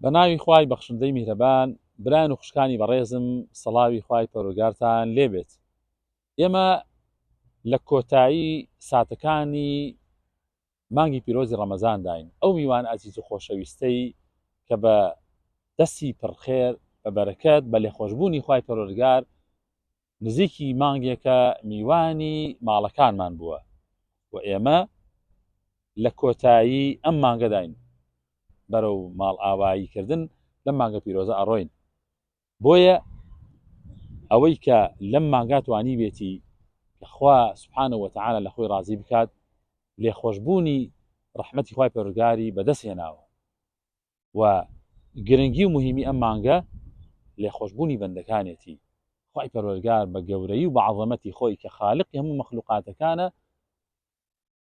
بە ناوی خوای بەخشندەی میهرەبان برایان و خوشکانی بەڕێزم سەڵاوی خوای پەرۆگارتان لێبێت ئێمە لە کۆتایی ساتەکانی مانگی پیرۆزی ڕەمەزانداین ئەو میوان ئازیز و خۆشەویستەی کە بە دەستی پڕخێر بە بەرەکەت بە لێخۆشببوونی خی پەرۆرگار نزیکی مانگێکە میوانی ماڵەکانمان بووە و ئێمە لە کۆتایی ئەم مانگەداین بەرەو ماڵ ئاوایی کردن لەم مانگە پیرۆزە ئەڕۆین بۆیە ئەوەی کە لەم مانگاتوانی بێتی کەخوا سبحانە وتعاە لە خۆی ڕازی بکات لێخۆشببوونی ڕحمەتی خی پەرگاری بەدەست هێناوە و گرنگی و مهمی ئەم مانگە لێخۆشبوونی بەندەکانێتی خی پەروەرگار بە گەورەی و بە عظەمەتی خۆی کە خاالقی هەموو مەخلوقاتەکانە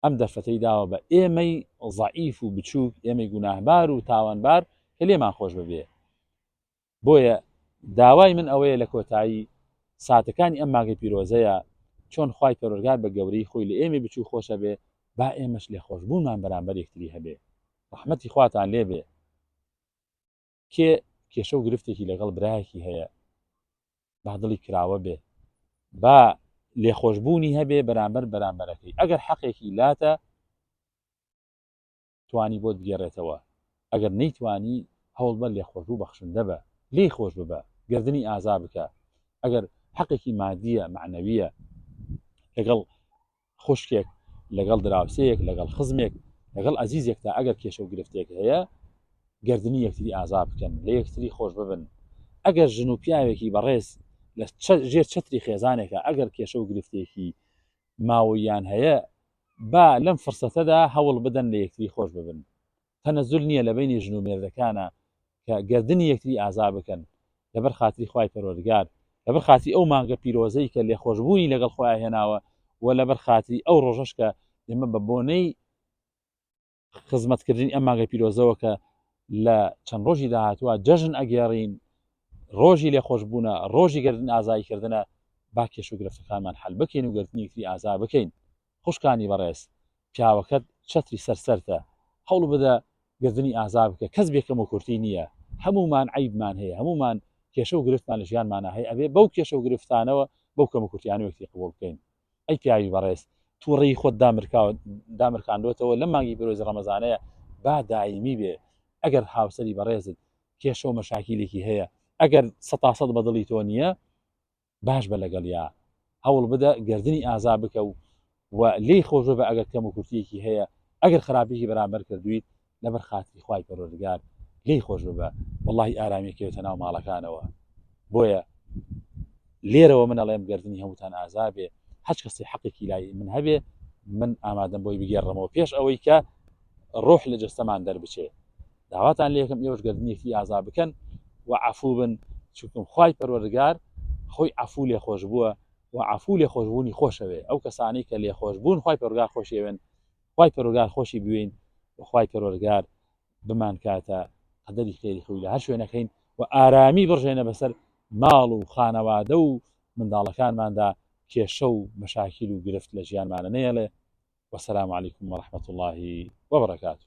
ئەم دەرفەتەی داوە بە ئێمەی زعیف و بچووک ئێمەی گوناهبار و تاوانبار کە لێمان خۆش ببێ بۆیە داوای من ئەوەیە لە کۆتایی ساتەکانی ئەم مانگەی پیرۆزەیا چۆن خوای پەروەرگار بە گەورەی خۆی لە ئێمەی بچوو خۆشەبێ با ئێمەش لێخۆشبوونمان بەرامبەر یەکتری هەبێ ڕەحمەتی خواتان لێبێ کێ کێشە و گرفتێکی لەگەڵ برایەکی هەیە با دڵی کراوە بێ با لێخۆشببوونی هەبێ بەرامبەر بەرامبەرەکەی ئەگەر حەقێکی لاتە توانی بۆت بگێڕێتەوە ئەگەر نەیتوانی هەوڵبە لێخۆش و بەخشندە بە لێی خۆش ببە گردنی ئازا بکە ئەگەر حەقێکی مادیە معنەویە لەگەڵ خوشکێک لەگەڵ دراوسەیەک لەگەڵ خزمێک لەگەڵ ئازیزێک تا ئەگەر کێشە و گرفتێک هەیە گردنی یەکتری ئازا بکەن لە یەکتری خۆش ببن ئەگەر ژن و پیاوێکی بەڕێز لە ژێر چتری خێزانێکە ئەگەر کێشە و گرفتێکی ماوەییان هەیە با لەم فرسەتەدا هەوڵ بدەن لە یەکتری خۆش ببن تەنەزول نییە لە بینی ژن و مێردەکانە کە گردنی یەکتری ئازا بکەن لەبەر خاتری خوای پەروەردگار لەبەر خاتی ئەو مانگە پیرۆزەی کە لێخۆشببوونی لەگەڵ خۆیان هێناوە و لەبەر خاتری ئەو ڕۆژەش کە ئێمە بە بۆنەی خزمەتکردنی ئەم مانگە پیرۆزەوە کە لە چەند ڕۆژی داهاتوە جەژن ئەگێڕین ڕۆژی لێ خۆشببوونە ڕۆژی گردن ئازایکردنە با کێش و گرفتەکانمان حل بکەین و گردنیتری ئازا بکەین خوشکانی بەڕێز پیاوەکەت چەتری سەر سەرتە هەوڵ بدە گردنی ئازا بکە کەس بێکەم و کورتی نییە هەمومان عیبمان هەیە هەمومان کێشە و گرفتمان لە ژیانمانە هەیە ئەبێ بەو کێشە و گرفتانەوە بەو کەم و کورتیانەوەکتی قبول بکەین ئەی پیاوی بەڕێز تووڕی خۆت دامرکاندوێتەوە لە مانگی برۆزی ڕەمەزانەیە با دایمی بێ ئەگەر هاوسری بەڕێزت کێشە و مەشاکیلێکی هەیە ئەگەر سەتاسەد بەدڵی تۆ نییە باش بە لەگەڵ یا هەوڵ بدە گردردنی ئازا بکە و و لی خۆشە بە ئەگەر کەم و کورتیەکی هەیە ئەگەر خراپیی بەرامبەر کردویت لەبەر خاتری خوای پەروەردگار لێی خۆش ببە وەڵی ئارامی کەوتە ناو ماڵەکانەوە بۆیە لێرەوە من ئەڵێم گردردنی هەمووتان ئازابێ هەچ کەسی حەقێکی لای من هەبێ من ئامادەم بۆی بگێڕمەوە پێش ئەوەی کە ڕۆح لە جستەمان دەربچێ داواتان لێکم ئێوەش گردردنیەتی ئازا بکەن و عفوو بن چکم خی پەروەرگار خۆی عفوو لێ خۆش بووە و عفوو لێ خۆشببوونی خۆشەوێ ئەو کەسانی کە لێ خۆش بوون خی پەرگار خۆشێوێن خوای پەرۆگار خۆشی بوێین وخوای پەرۆرگار بمان کاتە قەدەری خێری خۆی لە هەر شوێنەکەین و ئارامی بڕژێنە بەسەر ماڵ و خانەوادە و منداڵەکانماندا کێشە و مەشاکیل و گرفت لە ژیانمانە نەیەڵێ وسلام علیکم و رحمت اللهی وبرکاته